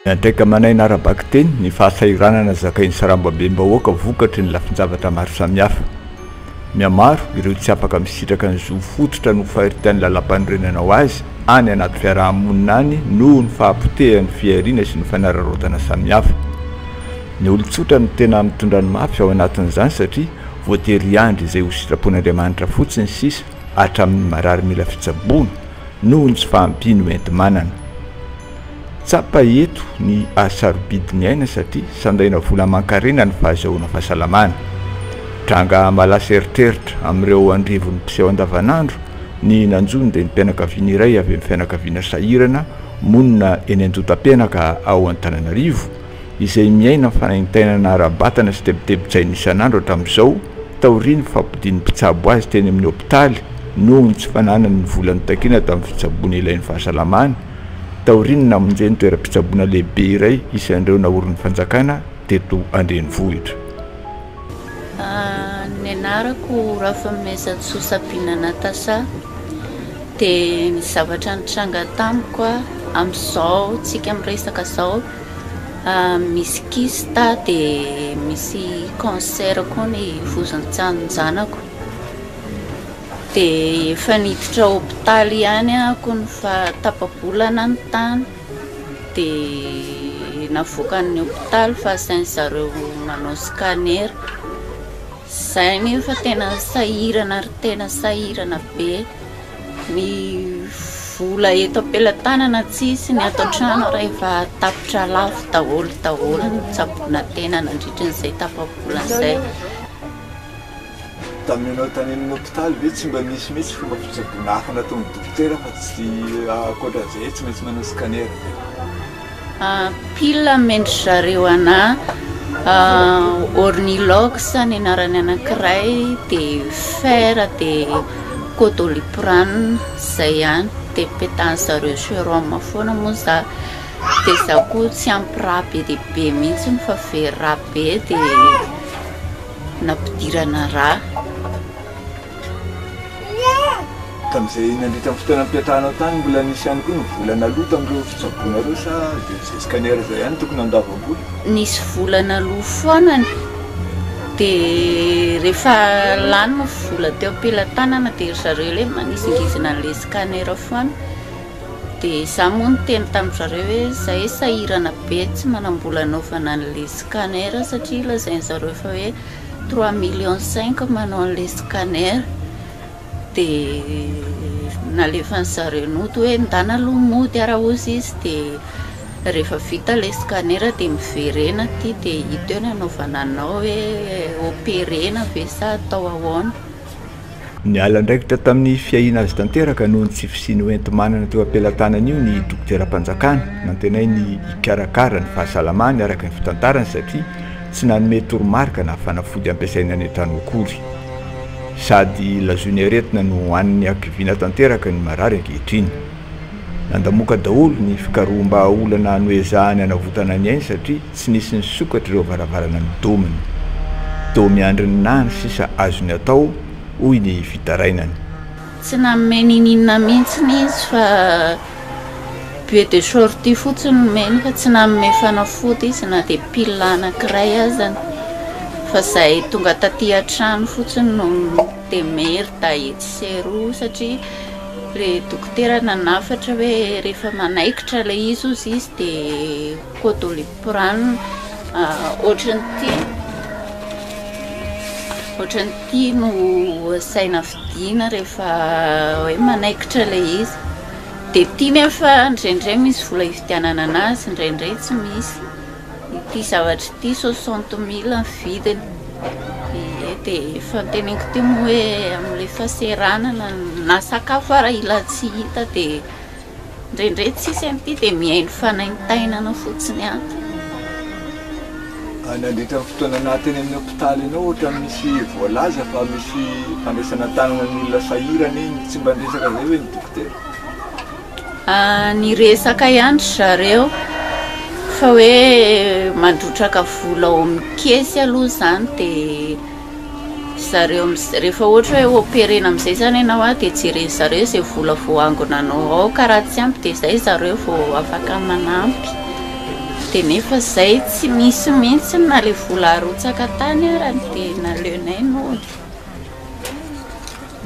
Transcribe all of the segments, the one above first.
Miantraika aman'aina ara-bakiteny ny fahasahiranana zakain'ny sarambabem-bahoaka vokatry ny lafin-javatra maro samihafa. Mihamaro ireo tsy afaka misitraka ny zo fototra nofaritran'ny Lalàmpanorenana ho azy any anaty fiaraha-monina any noho ny fahapotehan'ny fihariana sy ny fanararaotana samihafa. Ny olon-tsotra no tena mitondra ny mafy ao anatin'izany satria voatery hiandry izay ho sitrapon'Andriamanitra fotsiny sisa hatramin'ny marary mila fitsaboana noho ny tsy fahampiany hoenti-manana. Tsapa eto ny sarobidy niaina satria sandaina vola aman-karena ny fahazahoana fahasalamana. Tranga malaso eritreritra amin'ireo andrivony mpiseho andavanandro ny nanjo ny renim-pianakaviana iray avy amin'ny fianakaviana sahirana monina eny Andotampenaka ao Antananarivo, izay miaina fanaintainana ara-batana sy tebitebin-tsaina isan'andro hatramin'izao taorian'ny fampodian'ny mpitsabo azy teny amin'ny hopitaly noho ny tsy fananany ny vola nitakiana tamin'ny fitsaboana ilain'ny fahasalamana. Taorian'ny namonjeny toeram-pitsaboana lehibe iray isan'ireo naorin'ny fanjakana teto an-drenivohitra. Ny anarako Rafamezantsoa Sabina Natacha, dia ny zavatra nitranga tamiko amin'izao tsika miresaka izao, misy kista dia misy cancer koa ny vozon-tsaninjanako. Dia efa niditra hopitaly ihany ako ny faha tapa-bolana ny tany dia navoakan'ny hopitaly fa asainy zareo manao scanner. Izay nefa tena sahirana ry tena sahirana be. Ny vola eto am-pelatanana tsisy, ny ato an-trano ary efa tapitra lafo daholo daholo ny tsaboina tena nandritra an'izay tapa-bola izay. Tamin'ny nanao tany amin'ny hopitaly ve tsy mba nisy mihitsy fomba fitsaboana hafa nataon'ny dokotera fa tsy ankoatra an'izay hoe tsy maintsy manao scanner ve? Pile amin-dry zareo anà Ornilox ny anarany anankiray dia fer dia codoliprane izay ihany dia petan'ny zareo serum foana moa za dia izaho koa tsy ampy rà be dia be mihitsy fa very rà be dia nampidirana raha. Tamin'izay nandritra ny fotoana nipetrahanao tany mbola nisy ihany koa ny vola naloa tamin'ireo fitsaboana ireo sa dia izay scanner izay ihany no tokony handoavam-bola? Nisy vola naloa foana ny, dia rehefa lany ny vola teo am-pelatanana dia ry zareo ilay manizingizina an'ilay scanner foana. Dia izaho moa niteny tamin-dry zareo hoe izahay sahirana be tsy manam-bola hanaovana an'ilay scanner satria lazain-dry zareo fa hoe trois millions cinq manao an'ilay scanner. Dia nalefan'ny zareo nody hoe ndana aloha mody ary hozy izy dia rehefa vita ilay scanner dia miverena aty dia hita eo ny hanaovana anao hoe operer-na ve sa atao ahoana. Niala andraikitra tamin'ny fiahiana azy tanteraka noho ny tsy fisian'ny hoenti-manana teo am-pelatanany io ny dokoteram-panjakana nantenainy hikarakara ny fahasalamany araka ny fitantarany satria tsy nanome toromarika na fanafody hampiasainy any an-trano akory. Sady lazoiny aretina no an'ny hakiviana tanteraka ny marary ankehitriny. Nandamoka daholo ny fikaroham-bahaolana noezahany hanavotana ny ainy satria Tsy nisy nisokatra ireo varavarana midomina. Dômy handry ny naha ny sisa azony atao, hoy ny fitarainany. Tsy nanome niniana mihitsy izy fa bue de sortie fotsiny no nomeny fa tsy nanome fanafody izy na dia pil anankiray azany fa izay tonga taty an-trano fotsiny no dia mery dahy etsy sy eroa satria ilay dokotera nanafatra hoe rehefa manaikitra ilay izy hozy izy dia Koa Doliprane ohatrany ity ohatrany ity no asaina fidiana rehefa hoe manaikitra ilay izy dia ity nefa indraindray misy vola hividianana anazy indraindray tsy misy ity zavatra ity soixante mille ny vidiny ie dia efa noteneniko teo moa hoe amin'ilay fahasahiranana na sakafo ary ilay tsy hita dia Indraindray tsisy an ity dia mihaino fanaintainana fotsiny ato. Ah, nandritra ny fotoana naha teny amin'ny hopitaly anao ohatra misy voalaza fa misy fandraisana tanana ny olona sahirana iny, tsy mba niresaka zay ve ny dokotera? Ah, niresaka ihany ry zareo fa hoe mandrotraka vola ao amin'ny kesy aloha zany dia. zareo amizay rehefa ohatra hoe operena amizay zany ianao a de jeren'ny zareo zay vola voangonanao ao ka raha tsy ampy de zay zareo vao afaka manampy de nefa zay tsy misy mihitsy na le vola arotsaka tany arany de naleonay nody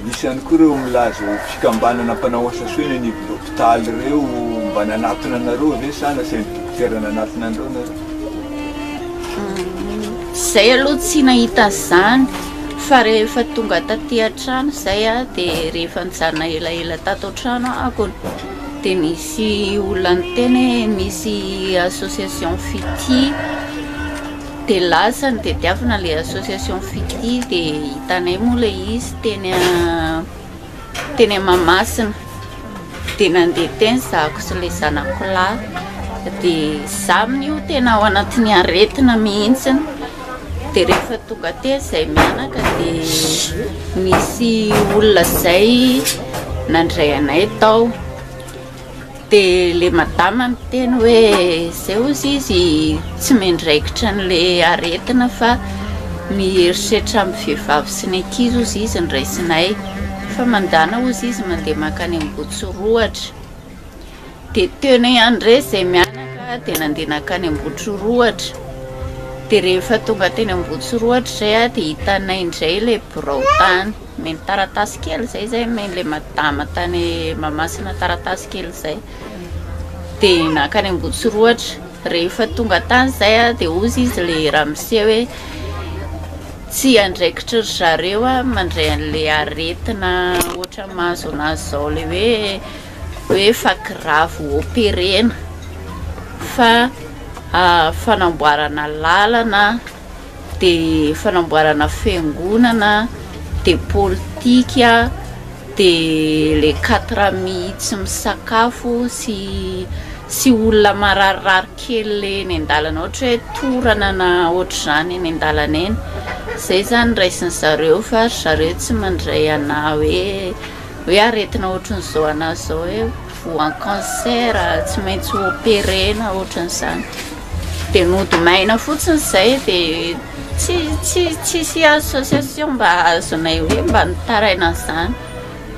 Misy ihany koa ireo milaza ho fikambanana mpanao asa soa eny anivon'ny hopitaly ireo mba nanatona anareo ve sa nasain'ny dokotera nanatona anareo nareo? Izay aloha tsy nahita an'izany fa rehefa tonga taty an-trano izay aho dia rehefa nijanona elaela tato an-trano aho dia nisy olona niteny hoe misy association fitia Dia lasa nitadiavana ilay association Fitia dia hitanay moa ilay izy teny teny Mahamasina. Dia nandeha teny zahako sy ilay zanako lahy. Dia za amin'io tena ao anatin'ny aretina mihitsy. Dia rehefa tonga aty izay mianaka dia nisy olona izay nandray anay tao. Dia ilay madama miteny hoe izay hozy izy tsy miandraikitra an'ilay aretina fa miherisetra amin'ny vehivavy sy ny ankizy hozy izy ny raisinay. Fa mandàna hozy izy mandeha mankany Ambohitsirohatra. Dia teny André izay mianaka dia nandeha nankany Ambohitrirohatra. Dia rehefa tonga teny Ambohitsirohatra izay dia hitanay indray ilay birao tany. Omeny taratasy kely izay izay omen'ilay madama tany Mahamasina taratasy kely izay. Dia nankany Ambotsiroatra. Rehefa tonga tany izay dia hozy izy le ramose hoe tsy andraikitry ry zareo a mandray an'le aretina ohatra mahazo anazy izao le hoe hoe efa grave ho operena fa fanamboarana lalana dia fanamboarana fiangonana, dia politika, dia le quatre amis tsy misakafo sy sy olona mararirary kely le eny an-dalana ohatra hoe torana na ohatr'izany eny an-dalana eny, zay zany raisin'ny zareo fa ry zareo tsy mandray anah hoe hoe aretina ohatrin'izao anah zao hoe. Voan'ny cancer tsy maintsy operena ohatran'izany. Dia nody maina fotsiny izay dia tsy tsy tsisy association mba azonay hoe mba nitaraina an'izany.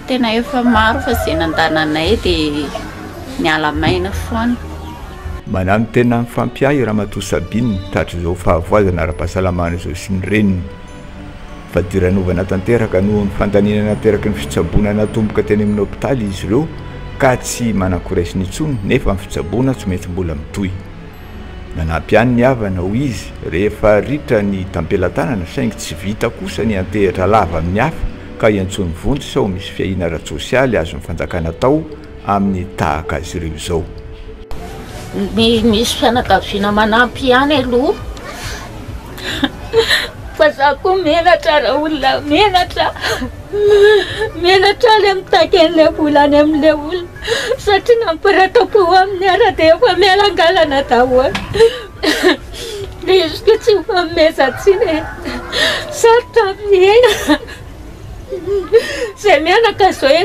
Tena efa maro fa izay nandananay dia niala maina foana. Mananontena ny fampiahy Ramatoa Sabine, tatitra izao fahavoazana ara-pahasalamana izao sy ny reniny. Fadiranovana tanteraka noho ny fandaniana nateraky ny fitsaboana natomboka teny amin'ny hopitaly izy ireo ka tsy manan-koresiny intsony nefa ny fitsaboana tsy maintsy mbola mitohy. Nanampy ihany ny havana, hoy izy, rehefa ritra ny tampelatanana saingy tsy vita kosa ny hiantehitra lava amin'ny hafa ka iantsoany vonjy sao misy fiahiana ara-tsosialy azon'ny fanjakana atao amin'ny tahaka azy ireo izao. Misy fianakaviana manampy ihany aloha fa za koa menatra raha olona menatra menatra le mitaky an'ilay vola any amin'ilay olona satria namparatako eo amin'ny ara dia efa mialangalana daholo le izy koa tsy mifanomezan-tsiny e sarotra amin'ny aina izay mianaka izao e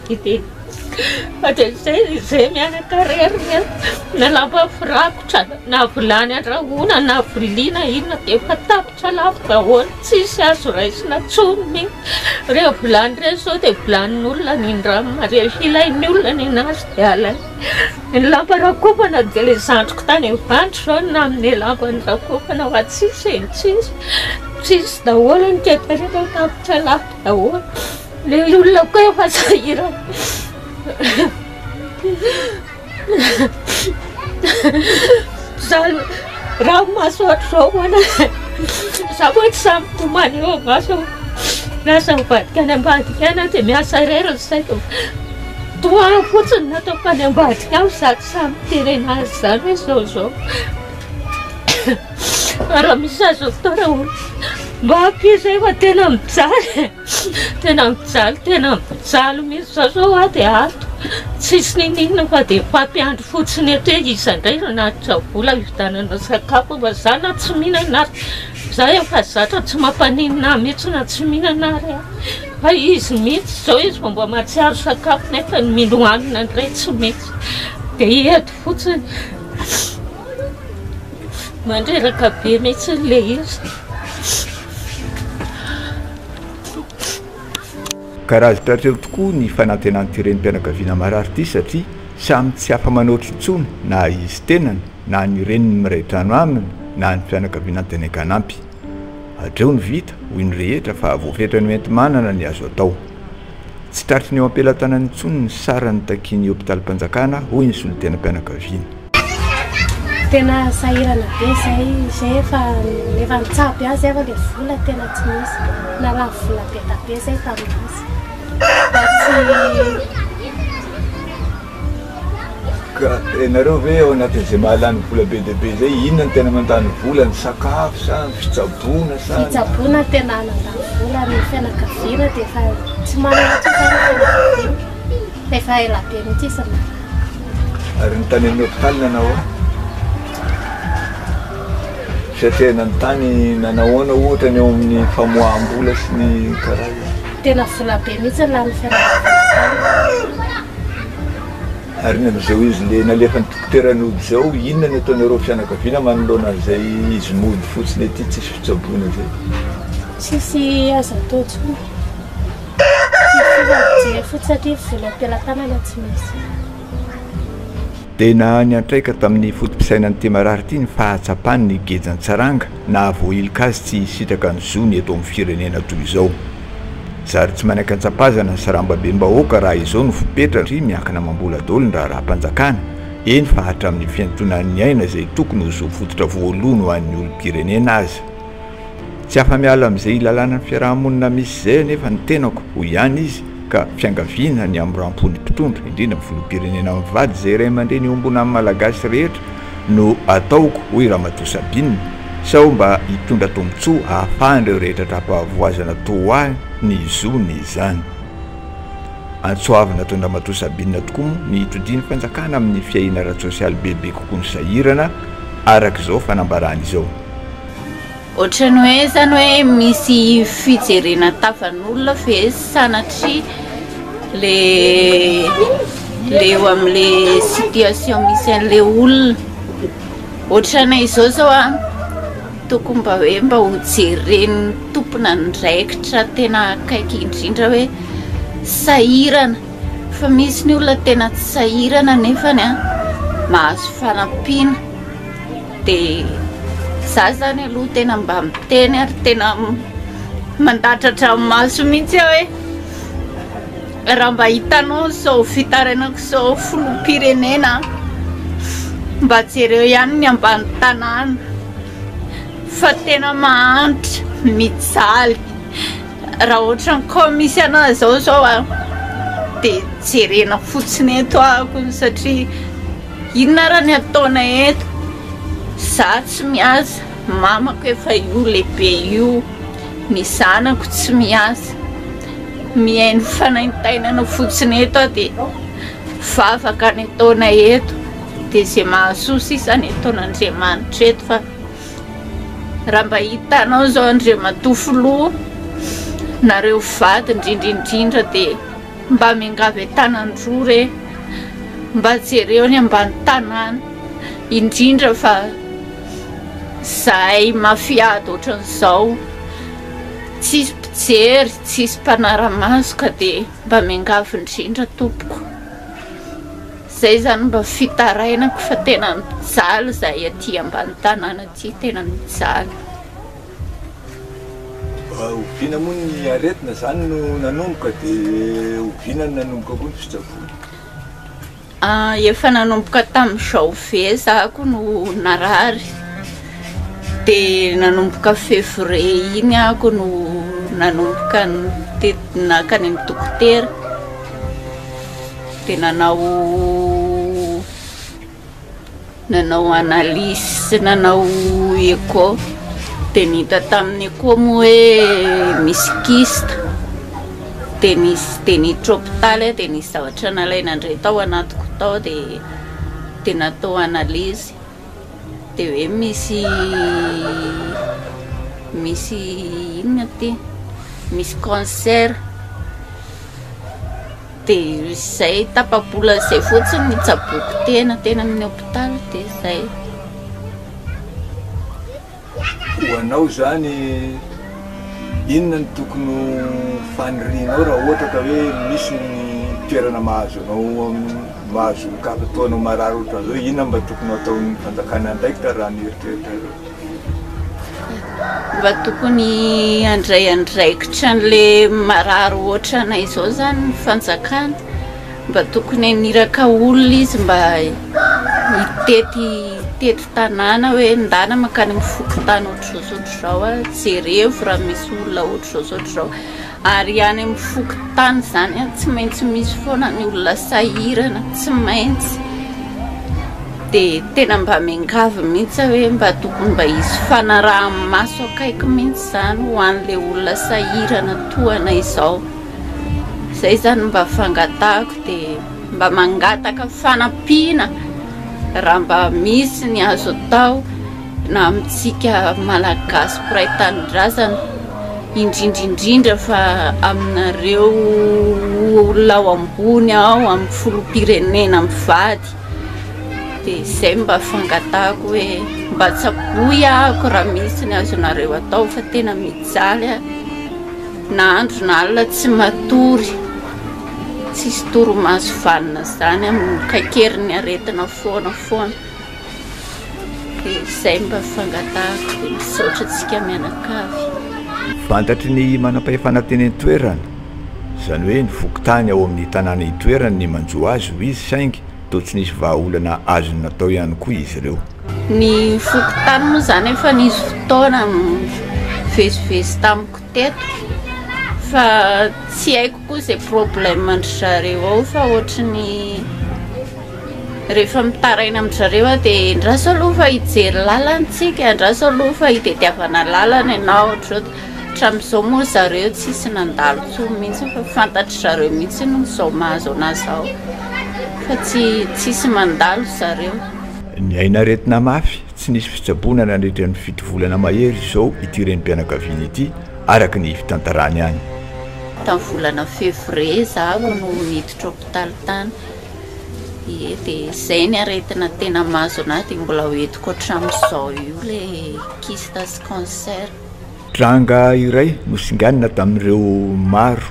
Fa dia izay dia izay mianakarena na lamba firakotra na vilany andrahoina na vilia na inona dia efa tapitra lafo daholo tsisy azo raisina intsony ny ireny vilany ireny izao dia vilanin'olona ny andramo dia ilain'ny olona ny an'azy dia alaina ny lamba rakofana dia ilay zandriko tany Ivandry izao no nanome lamba nirakofana fa tsisy e tsisy tsisy daholo ny toe-karena tapitra lafo daholo Ilay olona koa efa sahirana. Zany raha amin'ny maso ohatr'izao hoana za moa tsy samy tomany eo maso miasa mivadika any ambadika any aho dia miasa irery ny saiko. Toa ahy fotsiny no ataoko any ambadika any fa za tsy samy miteny an'azy izany hoe izao izao. Fa raha misy azo atao raha ohatra mba ampian'izay fa tena mijaly e. Tena mijaly, tena mijaly mihitsy za zao a de ato tsisy ninoninona fa de mpampiandry fotsiny eto hoe iza ndray no hanatitra vola hividianana sakafo fa za na tsy mihinana ary za efa zatra tsy mampaninona ahy mihitsy na tsy mihinana ary a fa izy mihitsy zao izy vao mba mahatsiaro sakafo nefa ny mino hanina ndray tsy misy de eto fotsiny mandreraka be mihitsy le izy. Karaivotra hatreo tokoa ny fanantenan'ity renim-pianakaviana marary ity satria samy tsy afa-manoatra intsony na izy tenany na ny reniny miray trano aminy na ny fianakaviana an-tena hanampy. Hatreo ny vita, hoy ny rehetra fa voafetra ny hoenti-manana ny azo atao. Tsy tratry ny eo am-pelatanana intsony ny sarany takian'ny hopitalim-panjakana, hoy ny solontenam-pianakaviana. Tena sahirana be izay, izay efa efa nitsabo ihany izay fa ilay vola tena tsy misy. Narary vola be dia be izay tamin'izay. Fa tsy Ka ianareo ve ao anatin'izay mahalany vola be dia be izay inona no tena mandany vola, ny sakafo sa ny fitsaboana sa ny- Fitsaboana no tena mandany vola, ny fianakaviana dia efa tsy manana intsony izany ny fianakaviana. Efa ela be mihitsy izy naratra. Ary ny tany amin'ny hopitaly nanao ahoana? Fiatrehana ny tany nanao ahoana ohatra ny eo amin'ny famoaham-bola sy ny karazany? Tena vola be mihitsy ny lanin'ny fianakaviana. Ary ny amin'izao izy ilay nalefa ny dokotera nody izao, inona no ataonareo fianakaviana manoloana an'izay izy mody fotsiny ety tsisy fitsaboana izay? Tsisy azo atao intsony. Tena niantraika tamin'ny foto-pisainan'ity marary ity ny fahatsapany ny gejan-tsaranga nahavoahiloka azy tsy hisitraka ny zony eto amin'ny firenena toy izao. Zary tsy manaiky an-tsapazana ny sarambabem-bahoaka raha izao no fepetra satria miankina amam-bola daholo ny raharaham-panjakana, eny fa hatramin'ny fiantonan'ny aina izay tokony ho zo fototra voalohany ho an'ny olom-pirenena aza. Tsy afa-miala amin'izay ilalanan'ny fiaraha-monina misy izay anefa ny tenako, hoy ihany izy, ka fiangaviana ny hamoram-po ny mpitondra, indrindra ny filoham-pirenena mivady izay ray aman-dreny iombonana amin'ny Malagasy rehetra no ataoko, hoy Ramatoa Sabine, sao mba hitondra tombontsoa hahafahan'ireo rehetra tra-pahavoazana toa ho ahy ny zony izany. Antsoavina toy ny Ramatoa Sabine tokoa moa ny hitodian'ny fanjakana amin'ny fiahiana ara-tsosialy bebe kokoa ny sahirana, araka izao fanambarany izao. Ohatran'ny hoe izany hoe misy fijerena tavan'olona ve sanatria le le eo amle situation misy anle olona ohatrany izao zao a tokony mba hoe mba ho jeren'ny tompon'andraikitra tena akaiky indrindra hoe sahirana fa misy ny olona tena tsy sahirana nefany a mahazo fanampiana Dia izaho izany aloha tena mba miteny ary tena mandatratra ny maso mihitsy aho hoe raha mba hitanao izao fitarainako izao filoham-pirenena mba jereo ihany ny ambany tanàna fa tena mahantra mijaly raha ohatra ny kao misy anah izao izao dia jerena fotsiny eto ahako satria Inona ara ny ataona eto? Za tsy miasa, mamako efa io lehibe io, ny zanako tsy miasa, mihaino fanaintainana fotsiny eto aho de vavaka ny ataona eto de ze mahasoa sisa ny ataon'Andriamanitra eto fa raha mba hitanao zao Andriamatoa Filoha nareo vady indrindra indrindra de Mba miangavy an-tanan-droa re, mba jereo ny ambany tanàna, indrindra fa zahay mafia ady ohatran'izao, tsisy mpijery, tsisy mpanara-maso ka dia mba miangavy indrindra tompoko. Izay izany mba fitarainako fa tena mijaly zahay aty ambany tanàna aty, tena mijaly. Oviana moa ny aretina izany no nanomboka dia oviana no nanomboka koa ny fitsaboana? Efa nanomboka tamin'izao ve za ko no narary dia nanomboka février iny aho ko no nanomboka naka any amin'ny dokotera dia nanao Nanao analyse sy nanao echo dia ny hita tamin'ny echo moa hoe misy kyste dia nisy dia niditra hopitaly aho dia nisy zavatra nalaina indray tao anatiko tao dia dia natao analyse dia hoe misy misy inona ity misy cancer Dia izay tapa-bola izay fotsiny ny tsaboiko tena teny amin'ny hopitaly dia izay. Ho anao izany inona no tokony ho fanirianao raha ohatra ka hoe misy ny toerana mahazo anao mahazo kapa toa anao marary ohatran'izao, inona no mba tokony ho ataon'ny fanjakana andraikitra raha ny eritreritrareo? Mba tokony handray andraikitra an'ilay marary ohatranay izao izany ny fanjakana. Mba tokony haniraka olona izy mba hitety hitety tanàna hoe ndana mankany amin'ny fokontany ohatr'izao sy ohatr'izao jereo raha misy olona ohatr'izao sy ohatr'izao. Ary any amin'ny fokontany izany an, tsy maintsy misy foana ny olona sahirana, tsy maintsy. Dia tena mba miangavy mihitsy aho hoe mba tokony mba hisy fanaraha-maso akaiky mihitsy izany ho an'ilay olona sahirana toa anay izao. Izay izany no mba fangatahako, dia mba mangataka fanampiana raha mba misy ny azo atao. na amintsika Malagasy mpiray tanindrazana, indrindra indrindra fa aminareo olona ao ambony ao amin'ny filoham-pirenena mivady, dia izay mba fangatahako hoe mba tsaboy ahako raha misy ny azonareo atao fa tena mijaly aho na andro na alina tsy matory, tsisy torimaso vanona izany amin'ny kaikerin'ny aretina foana foana. Dia izay mba fangatahako dia misaotra antsika mianakavy. Fantatry ny manam-pahefana teny an-toerana, izany hoe ny fokontany ao amin'ny tanàna itoerany ny manjo azy hoy izy saingy toa tsy nisy vahaolana azony natao ihany koa izy ireo. Ny fokontany moa izany efa nisy fotoana nivezivezy tamiko teto fa tsy haiko. Koa ze problème ndry zareo ao fa ohatry ny rehefa mitaraina amin-dry zareo aho dia andraso aloha fa hijery lalana isika, andraso aloha fa hitadiavana lalana ianao ohatr'izao, hatramin'izao moa ry zareo tsisy nandalo intsony mihitsy fa fantatry zareo mihitsy ny zao mahazo anahy zao fa tsy tsisy mandalo ry zareo. Niaina aretina mafy Tsy nisy fitsaboana nandritra ny fito volana mahery izao ity renim-pianakaviana ity, araka ny fitantarany any. Tamin'ny volana février izaho no niditra hopitaly tany, ie dia izay ny aretina tena mahazo an'ahy dia mbola ho entiko hatramin'izao io ilay kista sy cancer. Tranga iray nosinganina tamin'ireo maro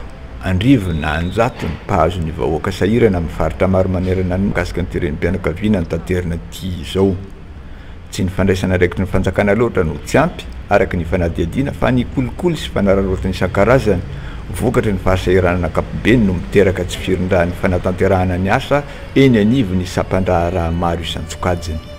andrivo na anjatony mpahazo ny vahoaka sahirana amin'ny faritra maro manerana ny mikasika ny teren'mpianakaviana no tanterina ity izao. Tsy ny fandraisana andraikitry ny fanjakana loatra no tsy ampy, araka ny fanadihadiana, fa ny kolikoly sy fanararaotana isan-karazany vokatry ny fahasahiranana ankapobeny no miteraka tsy firindran'ny fanatanterahana ny asa eny anivon'ny sampandraharaha maro isan-tsokajiny.